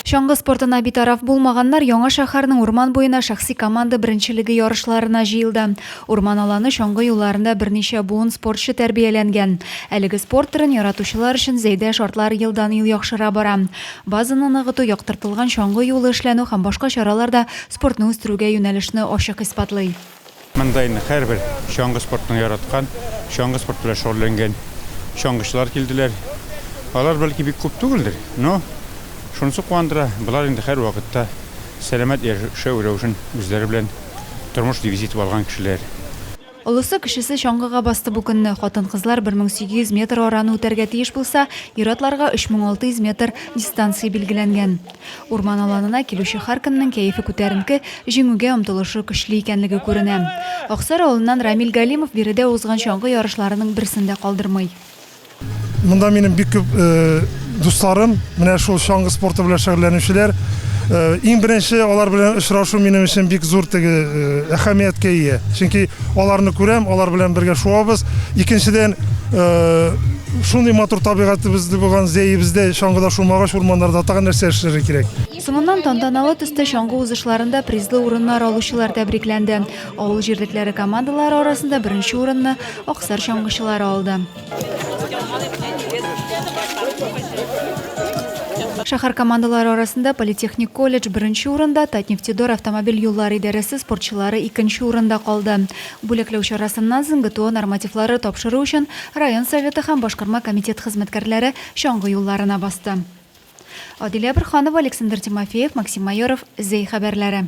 Чаңгы спортына битараф булмаганнар Яңа шәһәрнең урман буена шәхси команда беренчелеге ярышларына җыелды. Урман аланы чаңгы юлларында берничә буын спортчы тәрбияләнгән. Әлеге спорт төрен яратучылар өчен Зәйдә шартлар елдан-ел яхшыра бара. Базаны ныгыту, яктыртылган чаңгы юлы эшләнү һәм башка чаралар да спортны үстерүгә юнәлешне ачык исбатлый. Монда инде һәрбер чаңгы спортын яраткан, чаңгы спорты белән шөгыльләнгән чаңгычылар килделәр. Алар бәлки бик күп түгелдер, но шунысы куандыра, болар инде һәрвакытта сәламәт яшәү рәвешен үзләре белән тормыш девизы итеп алган кешеләр. Олысы, кечесе чаңгыга басты бу көнне. Хатын-кызлар 1800 метр араны үтәргә тиеш булса, ир-атларга 3600 метр дистанция билгеләнгән. Урман аланына килүче һәркемнең кәефе күтәренке, җиңүгә омтылышы көчле икәнлеге күренә. Аксар авылыннан Рамил Галимов биредә узган чаңгы ярышларының берсен дә калдырмый. Монда минем бик күп дусларым, менә шул чаңгы спорты белән шөгыльләнүчеләр. Иң беренче алар белән очрашу минем өчен бик зур теге әһәмияткә ия. Чөнки аларны күрәм, алар белән бергә шуабыз. Икенчедән, Шундый матур табигатыбызда булган зәебездә чаңгыда шумагач урманнарда тагын нәрсә эшләргә кирәк? Соңыннан тантаналы төстә чаңгы узышларында призлы урыннар алучылар тәбрикләнде. Авыл җирлекләре командалары арасында беренче урынны Аксар чаңгычылары алды. Шәһәр командалары арасында политехник колледж беренче урында, Татнефтедор автомобиль юллары идарәсе спортчылары икенче урында калды. Бүләкләү чарасыннан соң ГТО нормативлары тапшыру өчен район Советы һәм башкарма комитет хезмәткәрләре чаңгы юлларына басты. Адилә Борһанова, Александр Тимофеев, Максим Майоров, Зәй хәбәрләре.